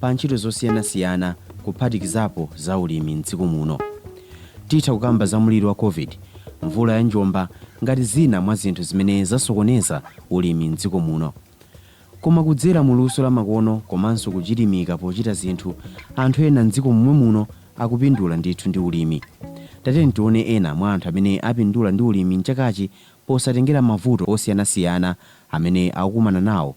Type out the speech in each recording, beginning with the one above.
pa ntchito zosiyanasiyana kuphatikizapo za ulimi m'dziko muno. Titha kukamba za mliri wa Covid, mvula ya njomba ngati zina mwa zinthu zimene zasokoneza ulimi m'dziko muno. Koma kudzera mu luso la makono komanso kuchilimika pochita zinthu, anthu ena m'dziko momwe muno akupindula ndithu ndi ulimi. Tatiyeni tione ena mwa anthu amene apindula ndi ulimi m'chakachi posatengera mavuto osiyanasiyana amene akukumana nawo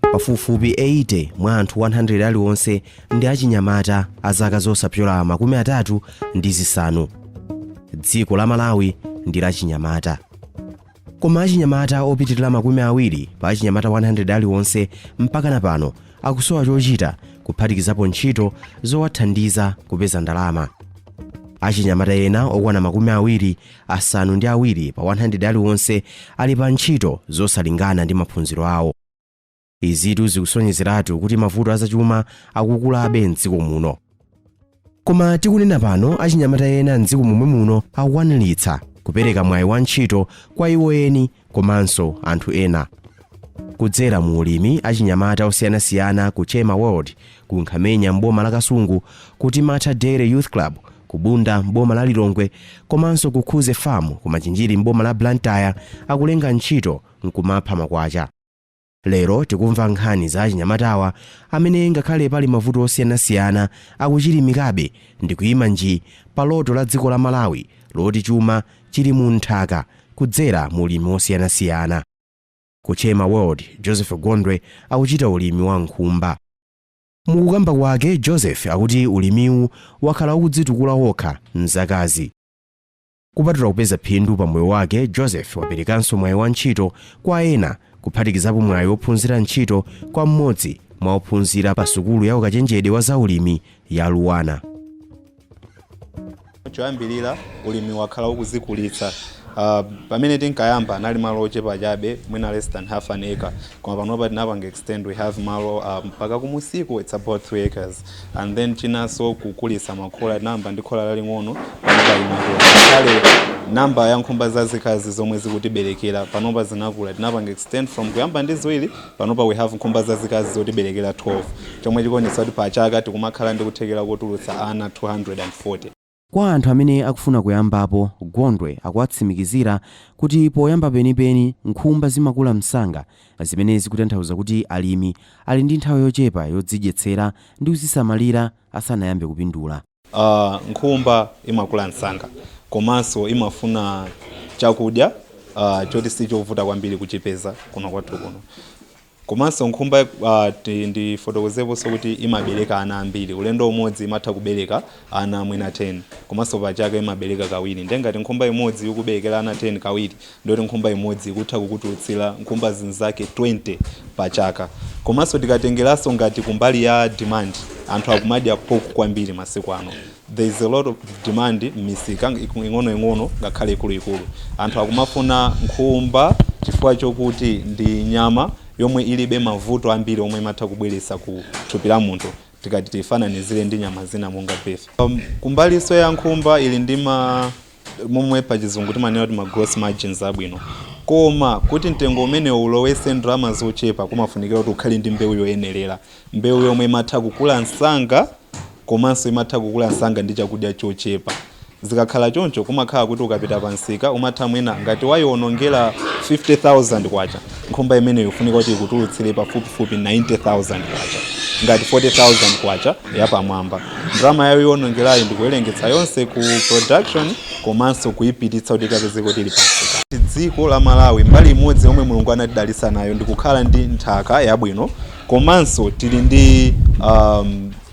Pafupifupi 80 mwa anthu 100 aliwonse ndi achinyamata a zaka zosapyola makumi atatu ndi zisanu. Dziko la Malawi ndi la chinyamata. Koma achinyamata opitirira makumi awiri pa achinyamata 100 aliwonse mpakana pano akusowa chochita kuphatikizapo ntchito zowathandiza kupeza ndalama. Achinyamata ena okwana makumi awiri asanu ndi awiri pa 100 aliwonse ali pa ntchito zosalingana ndi maphunziro awo izitu zikusonyezeratu kuti mavuto azachuma akukulabe mdziko muno koma tikunena pano achinyamata ena mdziko momwe muno akukwaniritsa kupereka mwayi wa ntchito kwa iwo eni komanso anthu ena. Kudzera mu ulimi, achinyamata osiyanasiyana ku Chema World ku Nkhamenya m'boma la Kasungu, ku Timatha Dairy Youth Club ku Bunda m'boma la Lilongwe komanso ku Khuze Farm ku Machinjiri m'boma la Blantyre akulenga ntchito n'kumapha makwacha. Lero tikumva nkhani za achinyamatawa amene ngakhale pali mavuto osiyanasiyana akuchilimikabe ndikuima nji pa loto la dziko la Malawi loti chuma chili mu nthaka kudzera mu ulimi wosiyanasiyana. Ku Chema World, Joseph Gondwe akuchita ulimi wa nkhumba. Mukukamba kwake, Joseph akuti ulimiwu wakhala ukudzitukula wokha m'zakazi. Kupatula kupeza phindu pa moyo wake, Joseph waperekanso mwayi wa ntchito kwa ena, kuphatikizapo mwayi wophunzira ntchito kwa mmodzi mwa ophunzira pa sukulu ya ukachenjede wa zaulimi ya LUANAR. Choyambirira ulimi wakhala ukuzikulitsa. Uh, pamene tinkayamba anali malo ochepa chabe mwina less than half an acre koma panopa tinapanga extend we have malo uh, mpaka kumsiku it's about 3 acres and then chinanso kukulitsa makhola tinayamba ndi khola laling'ono ngakhale namba ya nkhumba zazikazi zomwe zikutiberekera panopa zinakula tinapanga extend from kuyamba ndi ziwiri panopa we have nkhumba zazikazi zotiberekera 12 chomwe chikuonetsa kuti pa chaka tikumakhala ndi kuthekera kotulutsa ana 240 Kwa anthu amene akufuna kuyambapo, Gondwe akuwatsimikizira kuti poyamba penipeni nkhumba zimakula msanga zimene zikutanthauza kuti alimi ali ndi nthawi yochepa yozidyetsera ndi kuzisamalira asanayambe kupindula. Nkhumba imakula msanga komanso imafuna chakudya choti sichovuta kwambiri kuchipeza kuno kwathu kuno. Komanso nkhumba ndifotokozeponso kuti imabereka ana ambiri. Ulendo umodzi imatha kubereka ana mwina 10 komanso pa chaka imabereka kawiri. Ndiye ngati nkhumba imodzi ikuberekera ana 10 kawiri, ndiye kuti nkhumba imodzi ikutha kukutulutsira nkhumba zinzake 20 pa chaka. Komanso tikatengeranso ngati kumbali ya demand, anthu akumadya pork kwambiri masiku ano. There is a lot of demand m'misika ing'onoing'ono ngakhale ikuluikulu. Anthu akumafuna nkhumba chifukwa chokuti ndi nyama yomwe ilibe mavuto ambiri omwe imatha kubweretsa ku thupi la munthu tikati tiifananizire ndi nyama zina monga beef. Kumbalinso ya nkhumba ili ndi ma momwe pa chizungu timanena kuti ma gross margins abwino koma kuti mtengo umene uwo ulowese ndalama zochepa kumafunikira kuti ukhale ndi mbewu yoyenerera mbewu yomwe imatha kukula msanga komanso imatha kukula msanga ndi chakudya chochepa zikakhala choncho kumakhala kuti ukapita pa msika umatha mwina ngati wayionongera 50000 kwacha Nkhumba imeneyi ikufunika kuti ikutulutsire pafupifupi 90000 kwacha ngati 40000 kwacha yapamwamba. Ndalama yayo yoonongerayi ndikuwerengetsa yonse ku production komanso kuyipititsa kuti ikapezeke kuti ili pa msika. Dziko la Malawi, mbali imodzi yomwe Mulungu anatidalitsa nayo ndi kukhala ndi nthaka yabwino komanso tili ndi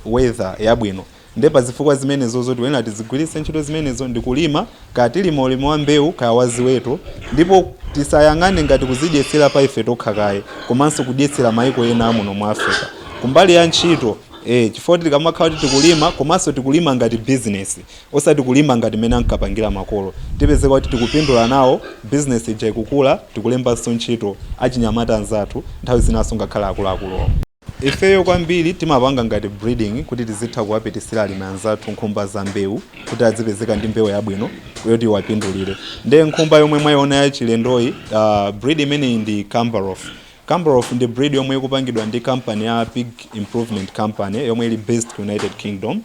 weather yabwino. Ndiye pa zifukwa zimenezozo tikuyenera tizigwiritse ntchito zimenezo ndi kulima, kaya tilima ulimi wa mbewu kaya wa ziweto, ndipo tisayang'ane ngati kuzidyetsera pa ife tokha kaye komanso kudyetsera maiko ena a muno mu Africa. Kumbali ya ntchito, chifukwa tikamakhala kuti tikulima komanso tikulima ngati business osati kulima ngati mmene ankapangira makolo, tipezeka kuti tikupindula nawo, business ija ikukula, tikulembanso ntchito achinyamata anzathu, nthawi zinanso ngakhale akuluakulu omwe. Ifeyo kwambiri timapanga ngati breeding kuti tizitha kuwapitisira alimi anzathu nkhumba za mbewu kuti adzipezeka ndi mbewu yabwino yoti iwapindulire. Nde nkhumba yomwe mwaiona yachilendoyi, uh, breed imeneyi ndi Camborough. Camborough ndi breed yomwe ikupangidwa ndi company ya Pig Improvement Company yomwe ili based ku United Kingdom.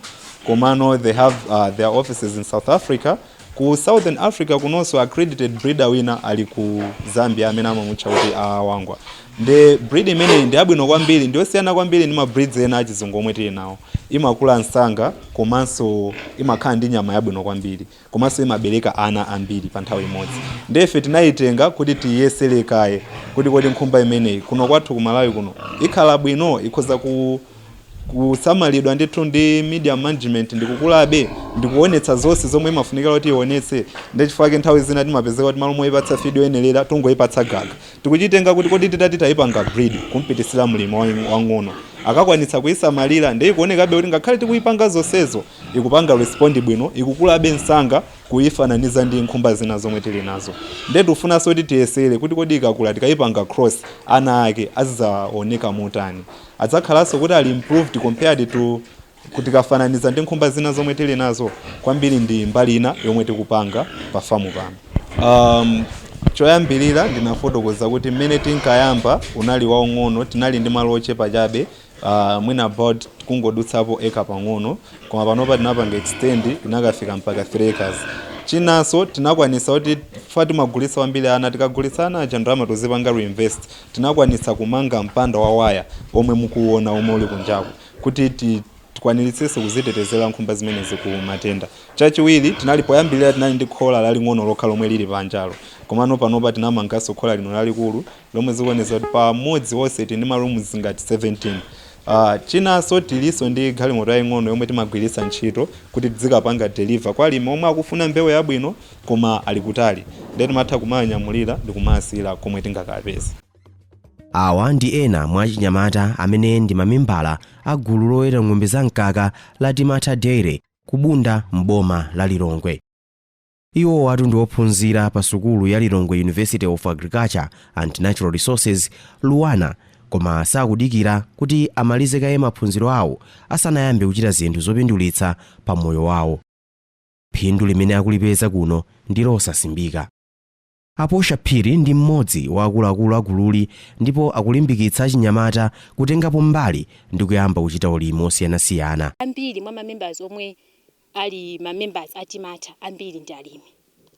Komano they have uh, their offices in South Africa Ku Southern Africa kunonso accredited breeder wina ali ku Zambia amene amamutcha kuti a Wangwa. Ndiye breed imeneyi ndi yabwino kwambiri, ndi yosiyana kwambiri ndi ma breeds ena achizungu omwe tili nawo. Imakula msanga komanso imakhala ndi nyama yabwino kwambiri komanso imabereka ana ambiri pa nthawi imodzi. Ndiye ife tinayitenga kuti tiyiyesere kaye kuti kodi nkhumba imeneyi kuno kwathu ku Malawi kuno ikhala bwino, ikhoza ku. kusamalidwa ndithu ndi medium management ndikukulabe ndi kuonetsa zonse zomwe imafunikira kuti ionetse ndi chifukwa chake nthawi zina timapezeka kuti malo moyipatsa feed yoyenerera tungoyipatsa gaga tikuchitenga kuti kodi titati tayipanga breed kumpititsira mlimi wang- wang'ono akakwanitsa kuyisamalira ndi ikuonekabe kuti ngakhale tikuyipanga zonsezo ikupanga respond bwino ikukulabe msanga kuyifananiza ndi nkhumba zina zomwe tili nazo nde tifunanso kuti tiyesere kuti kodi ikakula tikayipanga cross ana ake azidzaoneka motani Adzakhalanso kuti ali improved compared to ku tikafananiza ndi nkhumba zina zomwe tili nazo? Kwambiri ndi mbali ina yomwe tikupanga pa farm pano. Umm choyambirira ndinafotokoza kuti mmene tinkayamba unali waung'ono tinali ndi malo ochepa chabe aah mwina about kungodutsapo acre pang'ono koma panopa tinapanga extend tinakafika mpaka 3 acres. Chinanso tinakwanitsa kuti chifukwa timagulitsa kwambiri ana tikagulitsa ana aja ndalama tozipanga reinvest. Tinakwanitsa kumanga mpanda wa waya omwe mukuuona omwe uli kunjaku kuti tikwaniritsitse kuzitetezera nkhumba zimenezi ku matenda. Chachiwiri, tinali poyambirira tinali ndi khola laling'ono lokha lomwe lili panjalo komano panopa tinamanganso khola lino lalikulu lomwe zikuonetsa kuti pamodzi onse tili ndi ma rooms ngati 17. Chinanso tilinso ndi galimoto yaing'ono yomwe timagwiritsa ntchito kuti tidzikapanga deliver kwa alimi omwe akufuna mbewu yabwino koma ali kutali ndiye timatha kumawanyamulira ndikumaasiira komwe tingakaapeze. Awa ndi ena mwa achinyamata amene ndi mamembala a gulu loweta ng'ombe za mkaka la Timatha Dairy ku Bunda m'boma la Lilongwe. Iwowatu ndi ophunzira pa sukulu ya Lilongwe University of Agriculture and Natural Resources, LUANAR, koma sakudikira kuti amalize kaye maphunziro awo asanayambe kuchita zinthu zopindulitsa pa moyo wawo. Phindu limene akulipeza kuno ndi losasimbika. A Portia Phiri ndi mmodzi wa akuluakulu a gululi ndipo akulimbikitsa achinyamata kutengapo mbali ndi kuyamba kuchita ulimi osiyanasiyana. Ambiri mwa ma members omwe ali ma members a Timatha ambiri ndi alimi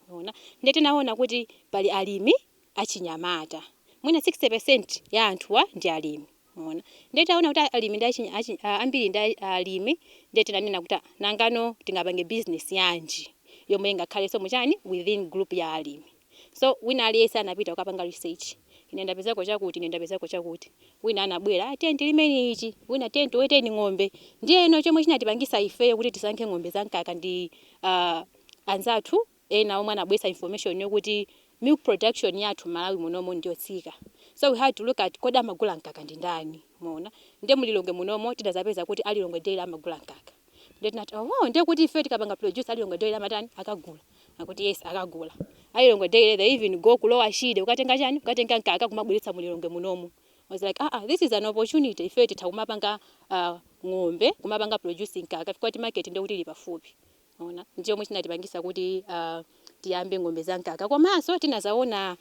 mwaona nde tinaona kuti pali alimi achinyamata mwina 60% ya anthuwa ndi alimi. Mwaona? Ndiye tinaona kuti a- alimi ndi achinya, achinya, a- ambiri ndi a- alimi, ndiye tinanena kuti ah, nangano tingapange business yanji yomwe ingakhalenso mu chani within group ya alimi. So wina aliyense anapita kukapanga research. Ine ndapezako chakuti, ine ndapezako chakuti. Wina anabwera, ah, tiyeni tilimeni ichi, wina tiyeni tiweteni ng'ombe. Ndiyeno chomwe chinatipangisa ifeyo kuti tisankhe ng'ombe za mkaka ndi ah, anzathu ena omwe anabweretsa information yokuti milk production yathu mmalawi munomu ndiyotsika so we had to look at kodi amagula mkaka ndi ndani mwaona nde mu Lilongwe munomu tidazapeza kuti a Lilongwe dairy amagula mkaka nde tinati oho nde kuti ifeyo tikapanga produce a Lilongwe dairy amatani akagula akuti yes akagula a Lilongwe dairy they even go ku lower shire kukatenga chani kukatenga mkaka kumabweretsa mu Lilongwe munomu I was like ah ah this is an opportunity ifeyo titha kumapanga ah, ng'ombe kumapanga produce mkaka chifukwa choti market nde kuti ili pafupi mwaona nchomwe chinatipangisa kuti tiyambe ng'ombe za mkaka komaso tinazaona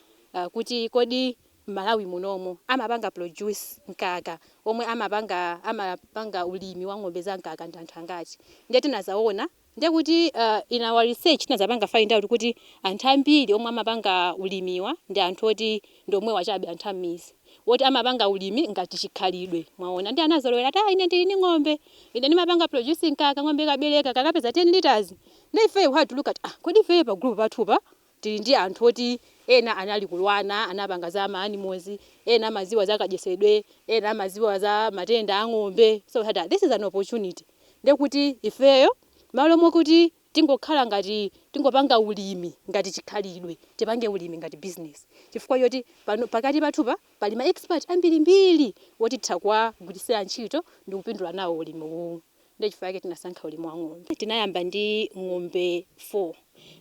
kuti kodi mmalawi munomu amapanga produce mkaka omwe amapanga amapanga ulimi wa ng'ombe za mkaka ndi anthu angati nde tinazaona ndi kuti in our research tinazapanga find out kuti anthu ambiri omwe amapanga ulimiwa ndi anthu oti ndi omwewo chabe anthu ammizi woti amapanga ulimi ngati chikhalidwe mwaona nde anazolowera ati aah ine ndili ndi ng'ombe ine ndimapanga produce mkaka kang'ombe kabereka kakapeza 10 litres nde ifeyo we had to look at aah kodi ifeyo pa group pathupa tili ndi anthu oti ena anali ku Luanar anapanga za ma animals ena amaziwa za kadyesedwe ena amaziwa za matenda a ng'ombe so we had aah this is an opportunity ndekuti ifeyo mmalo mokuti Tingokhala ngati tingopanga ulimi ngati chikhalidwe, tipange ulimi ngati business chifukwa choti pakati pathupa pali ma expert ambirimbiri woti titha kuwagwiritsira ntchito ndi kupindula nawo ulimi uwu. Ndiye chifukwa chake tinasankha ulimi wa ng'ombe. Tinayamba ndi ng'ombe 4.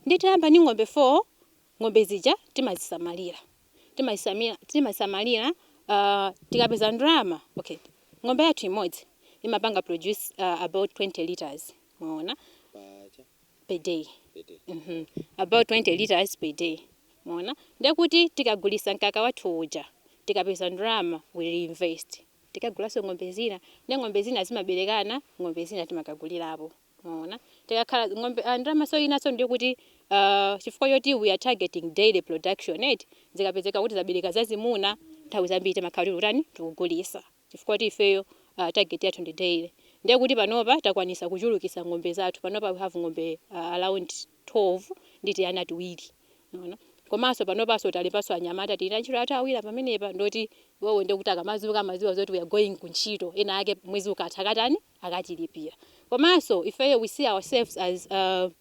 Ndiye titayamba ndi ng'ombe 4, ng'ombe zija timazisamalira. Timazisamalira, timazisamalira tikapeza ndalama, okay, ng'ombe yathu imodzi imapanga produce about 20 litres. mwaona per day mm -hmm. about 20 liters per day mwaona ndekuti tikagulisa mkaka wathu uja tikapeza ndalama we reinvest tikagulaso ng'ombe zina ndi ng'ombe zina zimaberekana ng'ombe zina timakagulirapo mwaona tikakhala ng'ombe ah, ndalama cholinganso ndikuti uh, chifukwa choti we are targeting dairy production eti zikapezeka kuti zabereka zazimuna nthawi zambiri timakhala tili kutani tikugulisa chifukwa kuti ifeyo uh target yathu ndi dairy ndiye kuti panopa takwanisa kuchulukisa ng'ombe zathu panopa we have ng'ombe uh around 12 ndi tiana tiwiri mwaona komanso panopanso talembanso anyamata tili ndi antchito athu awiri apa pamenepa ndioti iwowo ndiye kuti akamadzuka amadziwa zoti we are going ku ntchito ena ake mwezi ukatha akatani akatilipira komanso ifeyo we see ourselves as uh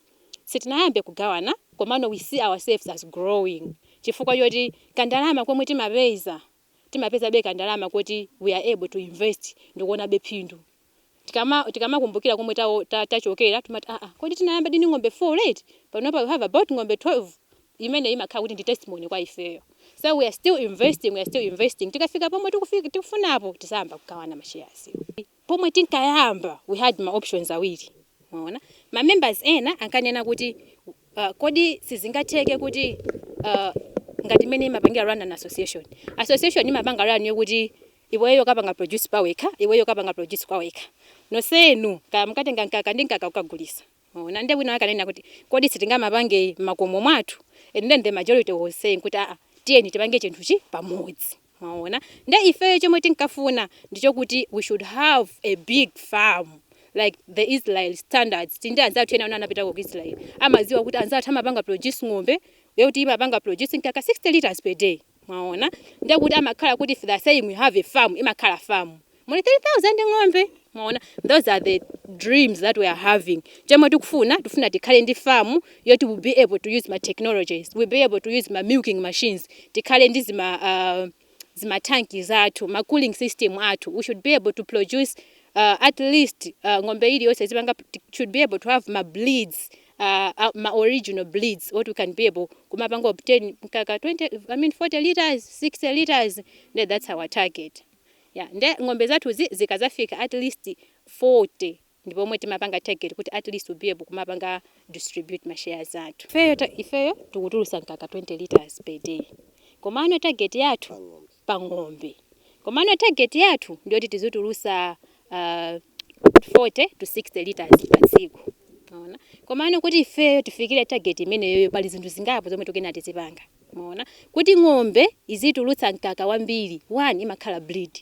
sitinayambe kugawana komano we see ourselves as growing chifukwa choti kandalama komwe timapeza timapezabe kandalama koti we are able to invest ndikuonabe phindu. Tikama tikamakumbukira komwe ta ta tachokera timati aah kodi tinayambadi ndi ng'ombe 4 right panopa we have about ng'ombe 12 imeneyi imakhala kuti ndi testimony kwa ifeyo so we are still investing we are still investing tikafika pomwe tikufi tikufunapo tizayamba kugawana ma shares. Pomwe tinkayamba we had ma options awiri mwaona. Ma members ena ankanena kuti uh, kodi sizingatheke kuti uh, ngati mmene imapangira run an association. Association imapanga run yokuti iweyo kapanga produce pawekha, iweyo kapanga produce kwawekha. Nosenu kaya mukatenge mkaka ndi mkaka ukagulisa. Mwaona, ndiye wina wake ananena kuti kodi sitingamapange m'makomo mwathu, and then the majority was saying kuti aa tiyeni tipange chinthuchi pamodzi. Mwaona, ndiye ifeyo chomwe tinkafuna ndi chokuti we should have a big farm like the Israel standards, tili ndi anzathu ena anapitako ku Israel amadziwa kuti anzathu amapanga produce ng'ombe yoti imapanga produce mkaka 60 litres per day. mwaona ndiye kuti amakhala kuti if they are saying we have a farm imakhala farm muli 3000 ng'ombe mwaona those are the dreams that we are having chomwe tikufuna tifuna tikhale ndi farm yoti we'll be able to use ma technologies we'll be able to use ma milking machines tikhale ndi zima uh, zimatanki zathu ma cooling system athu we should be able to produce uh, at least uh, ng'ombe iliyonse zipanga should be able to have ma breeds a, a, ma original breeds oti we can be able kumapanga obtain mkaka 20, I mean 40 litres, 60 litres, nde that's our target. Yeah, nde ng'ombe zathuzi zikadzafika at least 40 ndi pomwe timapanga target kuti at least we'll be able kumapanga distribute ma shares athu. Ifeyo ta, ifeyo tikutulutsa mkaka 20 litres per day komano target yathu pa ng'ombe komano target yathu ndiyoti tizitulusa uh, 40 to 60 liters pa tsiku maona komano kuti ifeyo tifikire target imeneyoyo pali zinthu zingapo zomwe tikuyenera tizipanga maona kuti ng'ombe izitulutsa mkaka wambiri one imakhala breed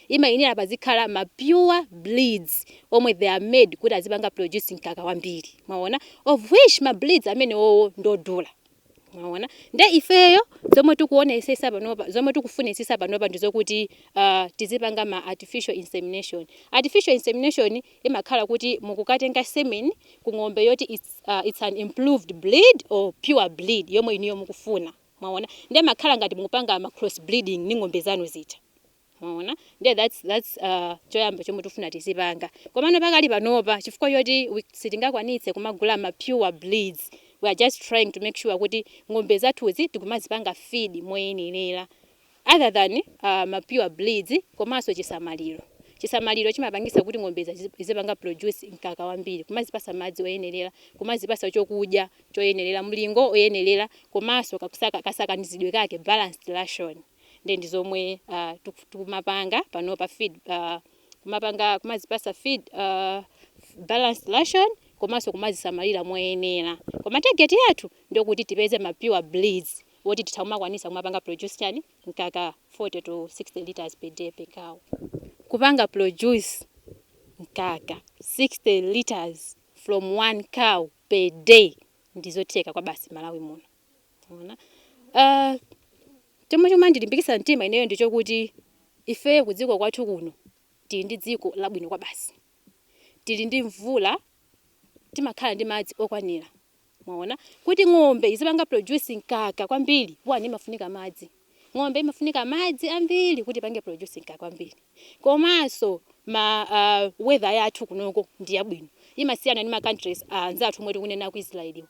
imayenera pazikhala ma pure breeds omwe they are made kuti azipanga produce mkaka wambiri maona of which ma breeds amenewowo ndodula Mwaona? Nde ifeyo zomwe tikuonesesa panopa, zomwe tikufunitsitsa panopa ndi zokuti uh, tizipanga ma artificial insemination. Artificial insemination imakhala kuti mukukatenga semen ku ng'ombe yoti it's, uh, it's an improved breed or pure breed yomwe inuyo mukufuna. Mwaona? Nde makhala ngati mukupanga ma cross breeding ndi ng'ombe zanu zija. Mwaona? Ndiye that's that's uh, choyamba chomwe tifuna tizipanga. Komano pakali panopa chifukwa choti we- sitingakwanitse kumagula ma pure breeds. We are just trying to make sure kuti ng'ombe zathuzi tikumazipanga feed moyenerera. Other than uh, ma pure breeds komanso chisamaliro. Chisamaliro chimapangisa kuti ng'ombe zazi- zizipanga produce mkaka wambiri, kumazipasa madzi oyenerera, kumazipasa chokudya choyenerera, mlingo oyenerera komanso kakusaka kasakanizidwe kake balanced ration. nde ndizomwe uh, tikumapanga panopa feed uh, kumapanga kumazipasa feed uh, balanced ration komanso kumazisamalira moyenera koma target yathu ndi yokuti tipeze ma pure breeds woti titha kumakwanisa kumapanga produce chani mkaka 40 to 60 liters per day per cow kupanga produce mkaka 60 liters from one cow per day ndizotheka kwabasi Malawi muno. Mwaona? Ah, chomwe chomandilimbikitsa mtima ineyo ndi chokuti ifeyo kudziko kwathu kuno tili ndi dziko labwino kwabasi. Tili ndi mvula, timakhala ndi madzi okwanira. Mwaona? Kuti ng'ombe izipanga produce mkaka kwambiri, one imafunika madzi. Ng'ombe imafunika madzi ambiri kuti ipange produce mkaka wambiri. Komanso ma uh, weather yathu kunoko ndi yabwino. Imasiyana ni ma countries uh, anzathu omwe tikunena ku Israel.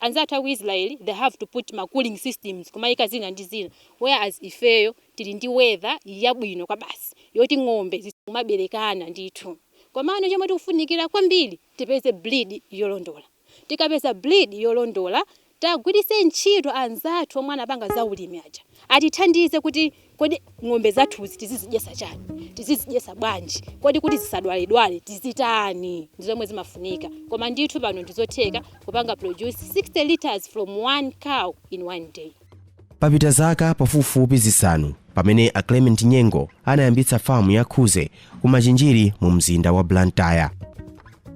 Anzathu a ku Israel they have to put ma cooling systems kumayika zina ndi zina. Whereas ifeyo tili ndi weather yabwino kwabasi yoti ng'ombe zimaberekana ndithu. Komano chomwe tikufunikira kwambiri tipeze breed yolondola. tikapeza breed yolondola tiwagwiritse ntchito anzathu omwe anapanga za ulimi aja atithandize kuti kodi ng'ombe zathuzi tizizidyesa chani tizizidyesa bwanji kodi kuti zisadwaledwale tizitani ndizomwe zimafunika koma ndithu pano ndizotheka kupanga produce 60 litres from one cow in one day. papita zaka pafupifupi zisanu pamene a clement nyengo anayambitsa famu ya khuze ku machinjiri mu mzinda wa blantyre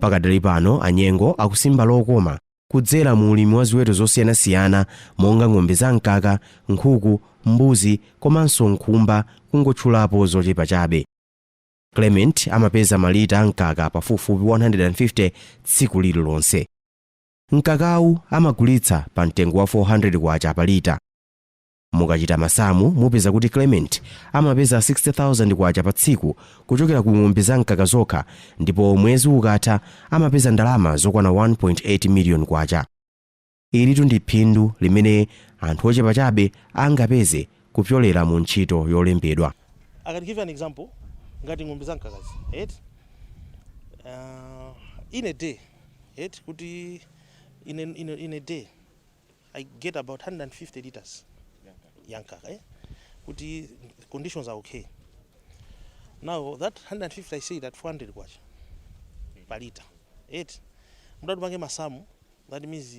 pakadali pano a nyengo akusimba lokoma kudzera mu ulimi wa ziweto zosiyanasiyana monga ng'ombe za mkaka nkhuku mbuzi komanso nkhumba kungotchulapo zochepa chabe clement amapeza malita a mkaka pafupifupi 150 tsiku lililonse Mkakawu amagulitsa pa mtengo wa K400 pa lita. Mukachita masamu mupeza kuti Clement amapeza K60,000 pa tsiku kuchokera ku ng'ombe za mkaka zokha ndipo mwezi ukatha amapeza ndalama zokwana K1.8 miliyoni. Ilitu ndi phindu limene anthu ochepa chabe angapeze kupyolera mu ntchito yolembedwa. I can give you an example ngati ng'ombe za mkakazi eti uh, in a day eti kuti in a, in, a, in a day I get about 150 liters ya mkaka eh? kuti conditions are okay now that 150 I sell at 400 kwacha per liter eti nde utati upange masamu that means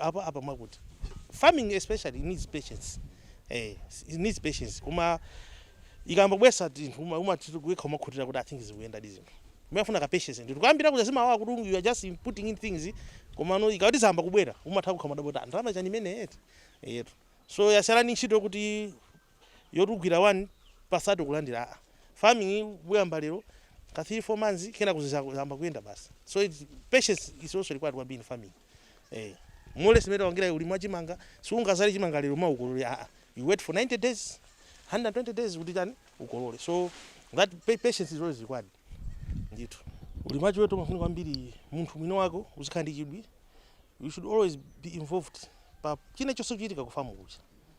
Apa apa ndimakuti farming especially needs patience eh it needs patience kuma ikamba bwesa tinthu uma uma tikuwekha umakhutira kuti i think zikuyenda ndi zinthu umafuna ka patience ndithu kuyambira kuti zimakhala kuti you are just putting in things komano ikati zayamba kubwera umatha kukhala mwadabwa ndalama chani imene eti yetu so yasalani ntchito kuti yotugwira one pasatu kulandira a farming uyamba lero ka 3 4 months kenako zizayamba kuyenda basi so it, patience is also required when doing farming eh olo mutatengera ulimi wa chimanga sungazale chimanga lero mawa ukolole aa you wait for 90 days 120 days kuti chani ukolole so that pa- patience is always required ndithu ulimi wa chiweto umafuna kwambiri munthu mwini wako uzikhala ndi chidwi you should always be involved pa china chilichonse chochitika kufamu kuja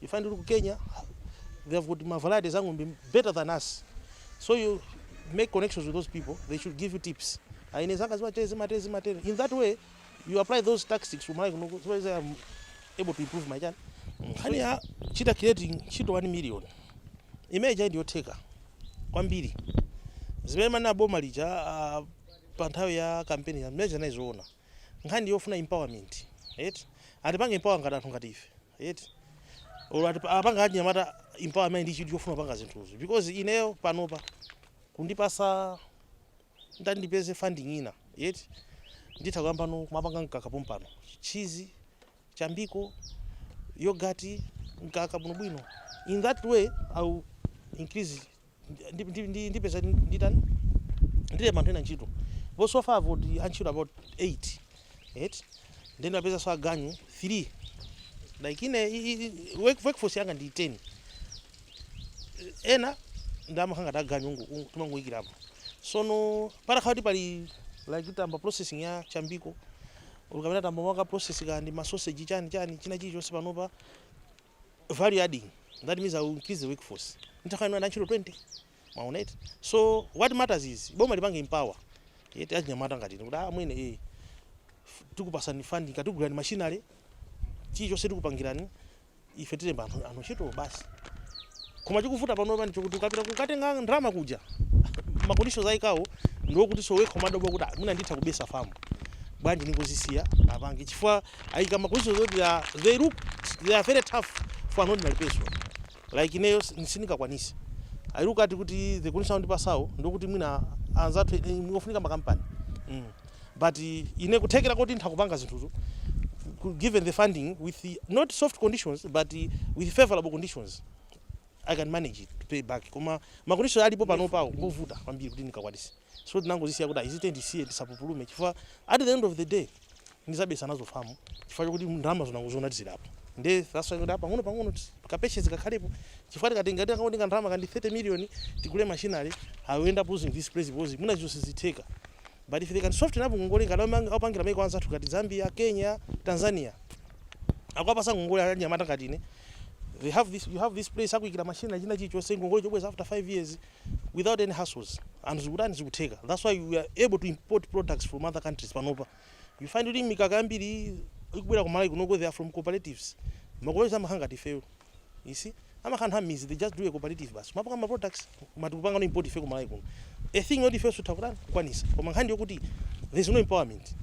You find kuti ku Kenya they have got ma varieties a ng'ombe better than us so you make connections with those people they should give you tips ah ine zanga zimatere zimatere zimatere in that way you apply those tactics to malawi kuno so as I am able to improve my chani nkhani ya job creating ntchito 1 million imene ija ndiyotheka kwambiri zimene ananena boma lija ah, pa nthawi ya kampeni ya mmene ndimazionera nkhani yofuna empowerment eti atipange empower ngati anthu ngati ife eti olo ati pa- apanga achinyamata empower amene ali ndi chidwi chofuna kupanga zinthuzo because ineyo panopa kundipasa nditati ndipeze funding inayake eti nditha kuyambanso kumapanga mkaka pompano cheese chambiko yogurt mkaka bwinobwino in that way I'll increase ndi- ndi- ndi- ndipeza nditani ndilemba anthu ena ntchito ndipo so far I've got antchito about 8 right then ndapezanso aganyu 3 like ine i- i- i- work- workforce yanga ndi 10 ena amakhala aganyu ungu- ungu- timangoyikirapo sono patakhala kuti pali like tayamba processing ya chambiko uku mwina tayamba kumapanga process kanyama ndi masoseji chani chani china chilichonse panopa value adding that means I will increase the workforce nditha kukhala ndi antchito 20 mwaona eti so what matters is boma lipange empower eti achinyamata ngati ine kuti amwene eh tikupatsani funding katiguleni machinery chilichonse tikupangirani ife tilemba anthu anthu ntchito basi koma chikuvuta panopa ndi chokuti ukapita kukatenga ndalama kuja makonditions ayikawo ndiokuti so wekha umadabwa kuti "Ah, mwina nditha kubetsa famu bwanji ndingozisiya apange chifukwa ayika ma conditions oti they are they look they are very tough for an ordinary person like ineyo si- sindingakwanise i look at kuti the condition andipatsawo ndikuti mwina anzathu eh, ngofunika makampani mm. but eh, ine kuthekera koti nditha kupanga zinthuzo ku- given the funding with the, not soft conditions but eh, with favorable conditions i can manage it to pay back koma ma conditions alipo panopawo ngovuta kwambiri kuti ndikakwanise so tinangozisiya kuti izi tizisiye tisapupulume chifukwa at the end of the day ndizabesa nazo farm chifukwa chokuti ndalamazo nangoziona tizidabwa nde that's why kuti a pang'ono pang'ono ti- ka patience kakhalepo chifukwa tikatenga tikabwereka ndalama kaya ndi 30 million tigule machinery i will end up losing this place because mwina zinthu sizitheka but if they can soften up ngongole ngati amang- apangira maiko anzathu ngati zambia kenya tanzania akuwapasa ngongole anyamata ngati ine they have this you have this place akuikira machine china chilichonse ngongole chobweza after 5 years without any hassles and zikutani zikutheka that's why we are able to import products from other countries panopa You find kuti mikaka yambiri ikubwera ku Malawi kunoko they are from cooperatives. Ma cooperatives amakhala ngati ifeyo. You see? Amakhala anthu amizi they just do a cooperative basi. Amapanga ma products koma tikupangano import ife ku Malawi kuno. A thing yoti ifeyo titha kutani kukwanisa. Koma nkhani yokuti there is no empowerment.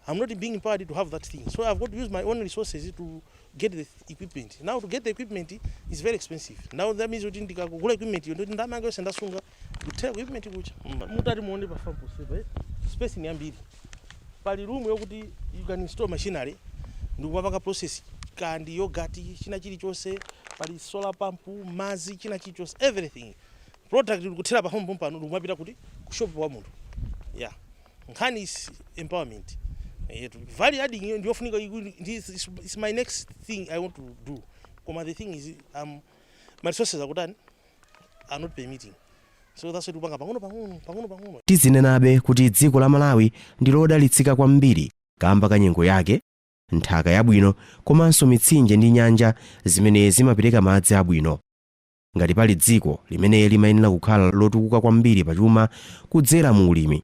I'm not being empowered to have that thing. So I've got to use my own resources to get the equipment. Now to get the equipment is very expensive. Now that means kuti ndikagula equipment yo ndoti ndalama yanga yonse ndasunga Kuthera ku equipment kucha mm, mutati muone pa farm ponsepa eh? space ni yambiri pali room yokuti you can install machinery ndikupanga process kaya ndi yogati china chilichonse pali solar pump mazi china chilichonse everything product ndikuthera pa home pompano ndikumapita kuti ku shop wa munthu yeah nkhani is empowerment yetu value adding iyo ndiyofunika iku- ndi- is, is, is my next thing i want to do koma the thing is um, my resources akutani are not permitting. So that's why tikupanga pang'ono pang'ono pang'ono pang'ono. Tizinenabe kuti dziko la Malawi ndi lodalitsika kwambiri kamba ka nyengo yake, nthaka yabwino komanso mitsinje ndi nyanja zimene zimapereka madzi abwino. Ngati pali dziko limene limayenera kukhala lotukuka kwambiri pachuma kudzera mu ulimi,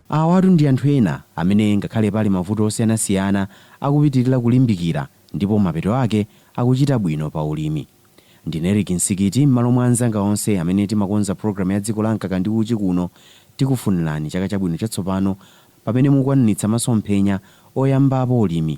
Awatu ndi anthu ena amene ngakhale pali mavuto osiyanasiyana akupitilira kulimbikira ndipo mapeto ake akuchita bwino pa ulimi. Ndine Eric Msikiti mmalo mwa anzanga onse amene timakonza program ya dziko la mkaka ndi uchi kuno tikufunirani chaka chabwino chatsopano pamene mukukwaniritsa masomphenya oyambapo ulimi